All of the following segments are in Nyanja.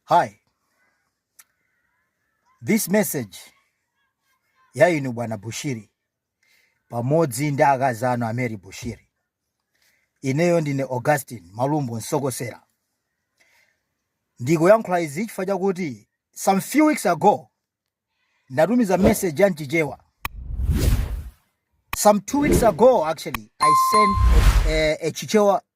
Hi. This message ya inu bwana Bushiri pamodzi ndi akazi anu a Mary Bushiri. Ineyo ndine Augustine Malumbo Nsokosera. Ndikuyankhula izi chifukwa chakuti some few weeks ago ndinatumiza message ya m'Chichewa. Some two weeks ago actually I sent a, a, a Chichewa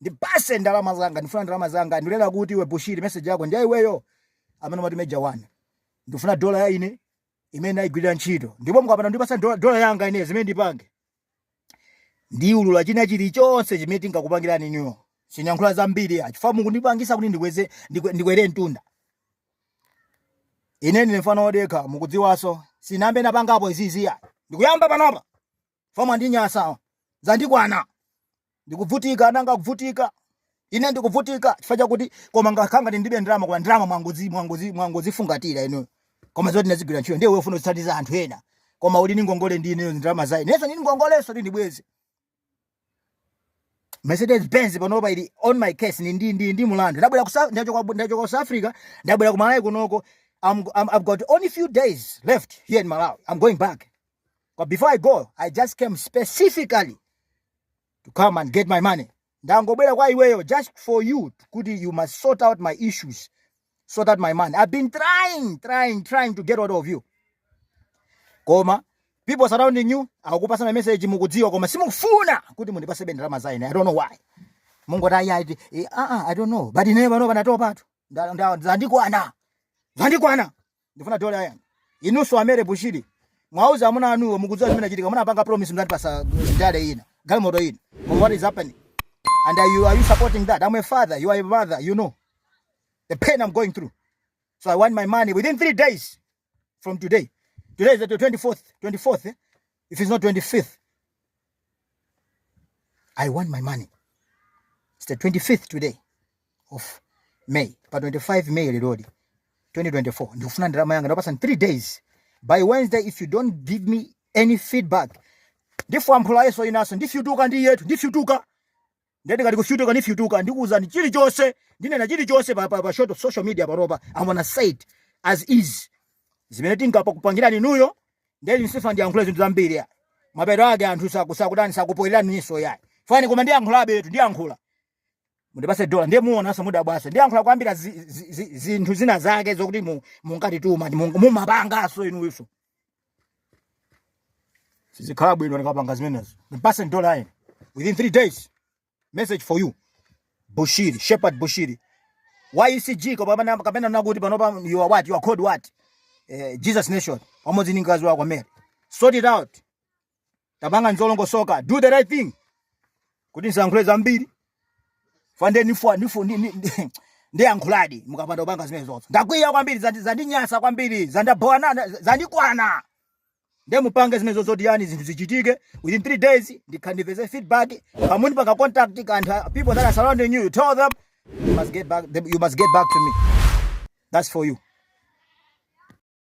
ndipatseni ndalama zanga ndifuna ndalama zanga ndiye ndati kuti iwe bushiri message yako ndi ya iweyo amene umati major one ndifuna dola ya ine imene naigwirira ntchito ndipo mukapanda kundipatsa dola yanga ine zimene ndipange ndiulula china chilichonse chimene tinkakupangirani inuyo sindiyankhula zambiri chifukwa mukundipangisa kuti ndikweze ndikwere mtunda ine ndine mfana wodekha mukudziwaso sinambenapangapo izizi ayi ndikuyamba panopa koma zandinyasa zandikwana ndikuvutika nanga kuvutika ine ndikuvutika chifukwa chakuti koma ngakhanga ndilibe ndalama koma ndalama mwangozi mwangozi mwangozifungatira inu koma zoti ndinazigwirira ntchito ndiye ufuna kuthandiza anthu ena koma uli ndi ngongole ndi ineyo ndalama za ine ineso ndili ndi ngongoleso ndiye ndibweze Mercedes Benz panopa ili on my case ni ndi ndi ndi mlandu ndabwera ku South- ndachoka ndachoka ku South Africa ndabwera ku Malawi kunoko I'm, I'm, I've got only few days left here in Malawi I'm going back But before I go, I just came specifically to come and get my money. Ndangobwera kwa iweyo just for you kuti you must sort out my issues. Sort out my money. I've been trying, trying, trying to get out of you. Koma people surrounding you akupasa na message mukudziwa koma simufuna kuti mundipase ndalama za ine. I don't know why. Mungu ta ya ah ah I don't know. But ine pano panatopa tu. Ndandikwana. Ndandikwana. ndifuna dole ayani inuso amere bushiri mwauza amuna anuwo mukudziwa zimene achitika munapanga promise mnati pasa ndale ina galimoto ina but what is happening and are you, are you supporting that i'm a father you are a mother you know the pain i'm going through so i want my money within three days from today today is the 24th 24th eh? if it's not 25th I want my money. It's the 25th today of May. Pa 25 May lerodi 2024. Ndikufuna ndalama yanga ndakupatsani 3 days. By Wednesday if you don't give me any feedback. Ndifwamphula ineso ineso ndifyutuka ndiyetu ndifyutuka. ndikati kufyutuka nifyutuka ndikuuzani chilichonse ndinena chilichonse pa, pa, pa so- social media panopa I'm gonna say it as is zimene tinkapa kupangirani inuyo nde sinifuna ndiyankhula zinthu zambiri ya mapeto ake anthu sakusakutani sakupoyerani niso ya fani koma ndiyankhulabe yetu ndiyankhula mundipatse dola ndiye muonanso mudabwasa ndiyankhula kwambiri zinthu zi, zi, zi, zina zake zokuti munkatituma mu, mumapanganso inuyo sizikhala bwino ndikapanga zimenezo ndipatseni dola ine within three days message for you bushiri shepherd bushiri wa ECG kapena kapena ndikuti panopa you are what you are called what eh, jesus nation pamodzi ndi mkazi wako mary sort it out tapangani zolongosoka do the right thing kuti nsayankhule zambiri fande nifwa nifu ni, ni, ni, ndiyankhuladi mukapanda kupanga zimenezo nde ndakwiya kwambiri zandi- zandinyasa kwambiri zandibhowa zandikwana nde mupange zimenezo zotiyani zinthu zichitike within three days ndikhale ndipeze feedback kaya munipanga contact kanthu uh, people that are surrounding you you tell them you must get back, you must get back to me that's for you